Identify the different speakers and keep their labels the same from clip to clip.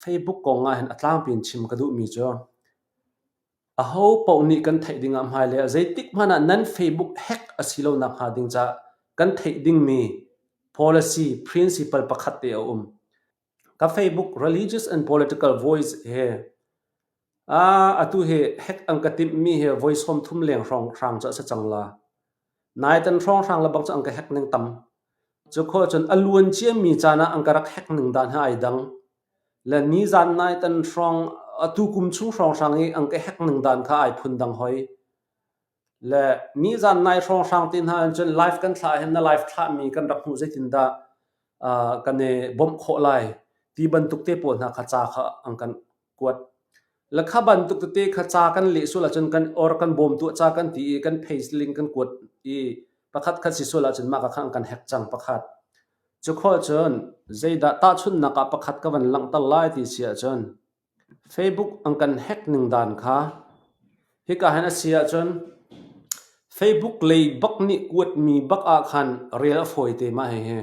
Speaker 1: Theibuk kong ahhin a tlangpi in chim ka duhmi cu aho paoh nih kan theih ding ah hmailei ah zeitik hmanh ah nan Facebook hack a si lo nak hnga ding caah kan theih dingmi policy principle pakhat te a um. Ka Facebook religious and political voice hi Atu hi hack an ka timhmi hi voi sawmthum leng hrawng cu a si cang la. Naiten hrawnghrang lebang cu an ka hack ning tam. Cu kho cun a luan ciami caan ah an ka rak hack ning dan hi ai dang. Le ni zan naiten hrawng, atu kum chung hrawnghrang i an ka hack ning dan kha ai phun dang hoi. Le nizan nai hrawnghrang te hna in cun live kan thlah hin na live thlahmi kan rak hmuh zeitindah uh, kan i bawmh khawh lai ti bantuk te pawl hna kha ca kha an kan kuat lakha bantuk tete kha ca kan le sul acun kan or kan bawm tu ca kan ti i kan page link kan kuat i pakhat khat si sul acun maka khan kan hack chang pakhat chu kho cun zeidah ta chun naka pakhat ka van lang tal lai ti si acun Facebook an kan hack ning dan kha hika hin a si ahcun Facebook lei bak nih kuatmi bak ah khan rel a fawi te mah hihi.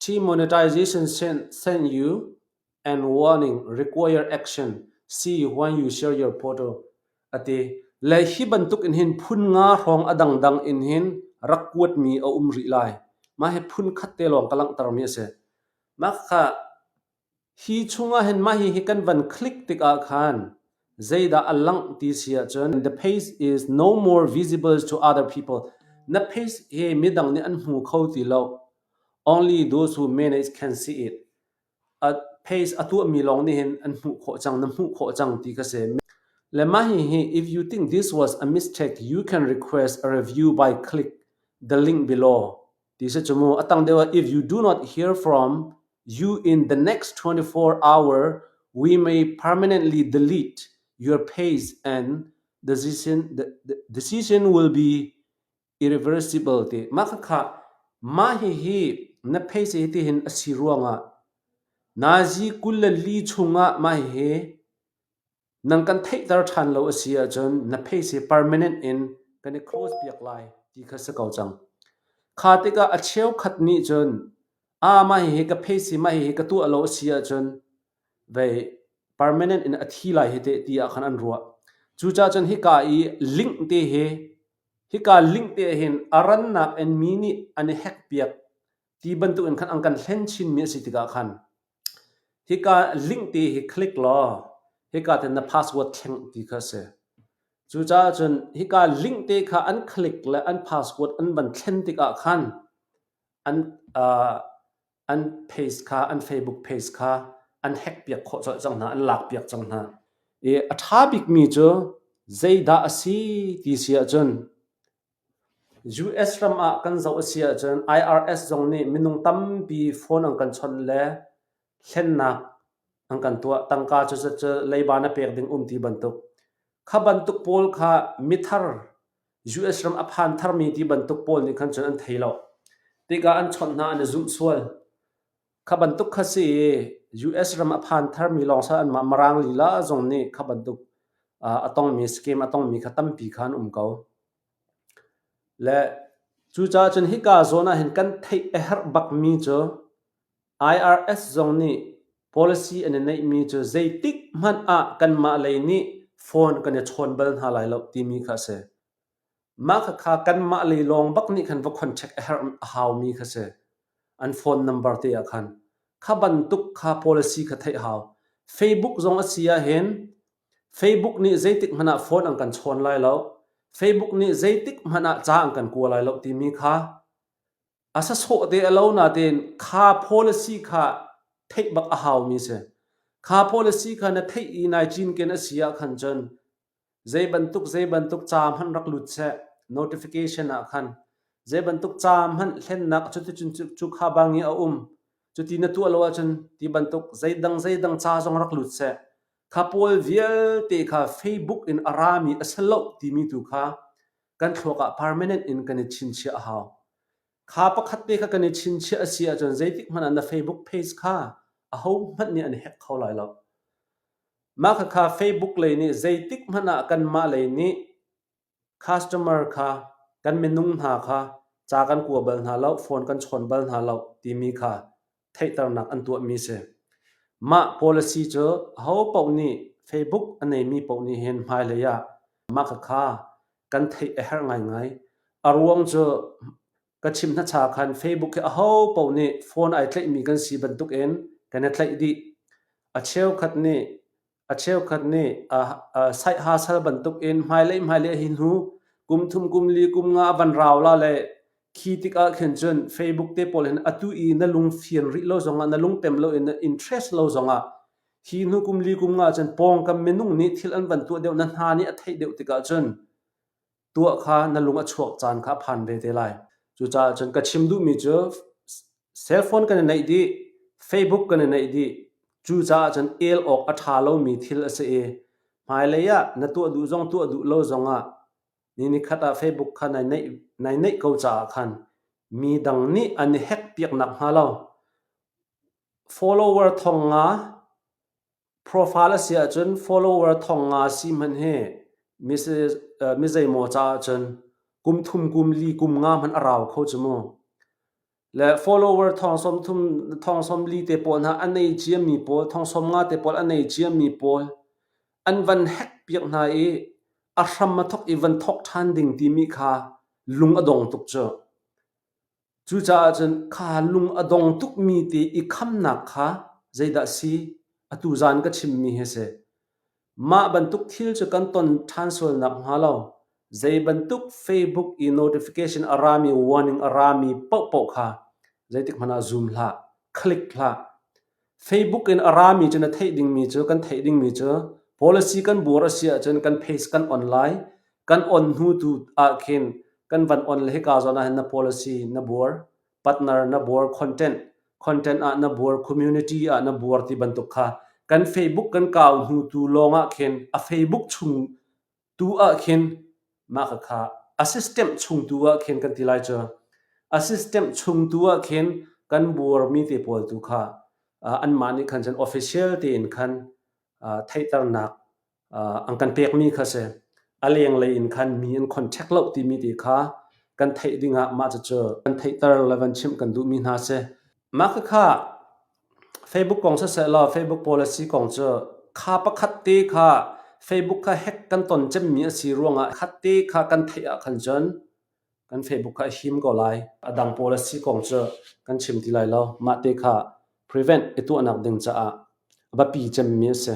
Speaker 1: Demonetization send, send you and warning require action see when you share your photo ati le hi bantuk in hin phun nga hrawng a dangdang in hin rak kuatmi a um rih lai. Mah hi phun khat te lawng ka langhtermi a si. Mah kha Hi chungah hin mah hihi kan van click tikah khan zeidah a langh ti si ahcun the page is no more visible to other people. Na page hi midang nih an hmu kho ti lo. Only those who manage can see it. A page a tuahmi lawng nih hin an hmuh khawh cang, na hmuh khawh cang ti ka si. Le mah hihi if you think this was a mistake, you can request a review by click the link below. ti se chu mu atang deuh if you do not hear from you in the next 24 hour we may permanently delete your page and decision the, the decision will be irreversible ti ma kha kha ma hi hi na phei se ti hin asi ruanga nazi kullan li chunga ma hi Nang kan theihter ṭhan lo a si ahcun na pheice permanent in kan i close piak lai ti kha si ko cang. Kha tikah a cheukhat nih cun aa mah hihi ka pheice mah hihi ka tuah lo a si ahcun vei permanent in a thi lai hi teh ti ah khan an ruah. Cucaah cun hika i link te hi hika link te hin a rannak in mi nih an i hack piak ti bantukin khan an kan hlen chinmi a si tikah khan Hika link ti hi click law hika te na password thleng ti kha a si. Cucaah cun hika link te kha an click le an password an van thlen tikah khan an uh, an page kha an Facebook page kha an hack piak khawh colh cang hna, an lak piak cang hna. I a ṭha bikmi cu zeidah a si ti si ahcun US ram ah kan zoh a si ahcun IRS zong nih minung tampi phone an kan chawnh le hlennak an kan tuah. Tangka cu leiba na pek ding um ti bantuk. Kha bantuk pawl kha mithar US ram a phan tharmi ti bantuk pawl nih khan cun an thei lo. Tikah an chawnh hna an i zumh sual. Kha bantuk kha si i US ram a phan tharmi lawng sal anmah Maraang lila zong nih kha bantuk a tongmi scheme a tongmi kha tampi kha an um ko. Le cucaah cun hika zawn ah hin kan theih a herh bakmi cu IRS zong nih policy an i neihmi cu zeitik hmanh ah kanmah lei nih phone kan i chawn bal hna lai lo timi kha a si. Mah khakha kanmah le lawng bak nih khan va khonchek a herh a haumi kha si. An phone number te ah khan. Kha bantuk kha policy kha theih hau. Facebook zong a si ahhin Facebook nih zeitik hmanh ah phone an kan chawn lai lo. Facebook nih zeitik hmanh ah ca an kan kua lai lo timi kha a sasawh te a lo nain kha policy kha theih bak a haumi si. Kha policy kha na theih i nai cinken a si ahkhan cun Zeibantuk zeibantuk ca hmanh rak lut seh, notification ah khan. Zeibantuk ca hmanh hlennak cuticun cu kha bang i a um. Cuti na tuah lo ahcun ti bantuk zeidang zeidang ca zong rak lut seh. Kha pawl vialte kha Facebook in a rami a si loh timi tu kha kan thluak ah permanent in kan i chinchiah a hau. Kha pakhat te kha kan i chinchiah a si ahcun zeitik hmanh ah na Facebook page kha ahohmanh nih an hack kho lai lo. Mah khakha Facebook lei nih zeitikhmanh ah kanmah lei nih customer kha kan minung hna kha ca kan kua bal hna lo, phone kan chawn bal hna lo timi kha theihternak an tuahmi si. Mah policy cu ho paoh nih Facebook a neimi paoh nih hin hmailei ah mah khakha kan theih a herh ngaingai. A ruang cu Ka chim hnacha khan Facebook hi aho paoh nih phone ai tlaihmi kan si bantukin kan i tlaih dih. A cheukhat nih a cheukhat nih a, a saih ha sal bantukin hmailei hmailei hi hnu kum thum kum li kum nga van rau la le khi tik ah khin cun Facebook te pawl hin atu i na lung fian rih lo zongah na lung tem lo in na interest lo zongah hi hnu kum li kum nga cun pawngkam minung nih thil an van tuah deuh na hna nih a theih deuh tikah cun tuah kha na lung a chuak caan kha a phan ve te lai. Cucaah cun ka chim duhmi cu cellphone kan i naih dih, Facebook kan i naih dih. Cucaah cun el awk a ṭha lomi thil a si i hmailei ah na tuah duh zong tuah duh lo zong ah ni nikhat ah Facebook kha nai naih nai naih ko caah khan mi dang nih an i hack piak nakhnga lo follower thong nga Profile a si ahcun follower thong nga si hmanh hi mi zeimaw caah cun kum thum kum li kum nga hmanh a rau kho cu mu. Le follower thong som thum thong som li te pawl hna an nei ciami pawl thong som nga te pawl an nei ciami pawl an van hack piak hna i a hram a thok i van thok ṭhan ding timi kha lung a dong tuk cu. Cucaah cun kha lung a dong tukmi te i khamnak kha zeidah a si? Atu zan ka chimmi hi a si. Mah bantuk thil cu kan ton ṭhan sual nakhnga lo zei bantuk Facebook i notification a rami, warning a rami paohpaoh kha zeitik hmanh ah zoom hlah, click hlah. Facebook in a rami cu na theih dingmi cu kan theih dingmi cu policy kan buar a si ahcun kan page kan on lai kan on hnu tu ah khin kan van on le hika zawn ah na policy na buar partner na buar content content ah na buar community ah na buar ti bantuk kha kan facebook kan kau hnu tu lawng ah khin a facebook chung tu ah khin mah kha a system chung tu ah khin kan ti lai cu a system chung tu ah khin kan buar mi te pawl tu kha an mah nih khan official tein khan theihternak an kan pek mi kha si a leng lei in khan mi an contact lo ti mi te kha kan theih ding ah mah cu kan theihter le van chim kan duh mi hna si mah kha Facebook kong sisehla Facebook pawl asi kong cu kha pakhat te kha Facebook kha hack kan ton cemmi asi ruangah khat te kha kan theih ahkhan cun kan Facebook kha a him ko lai. A dang pawl asi kong cu kan chim ti lai lo. Mah te kha prevent i tuahnak ding caah a biapi cemmi asi.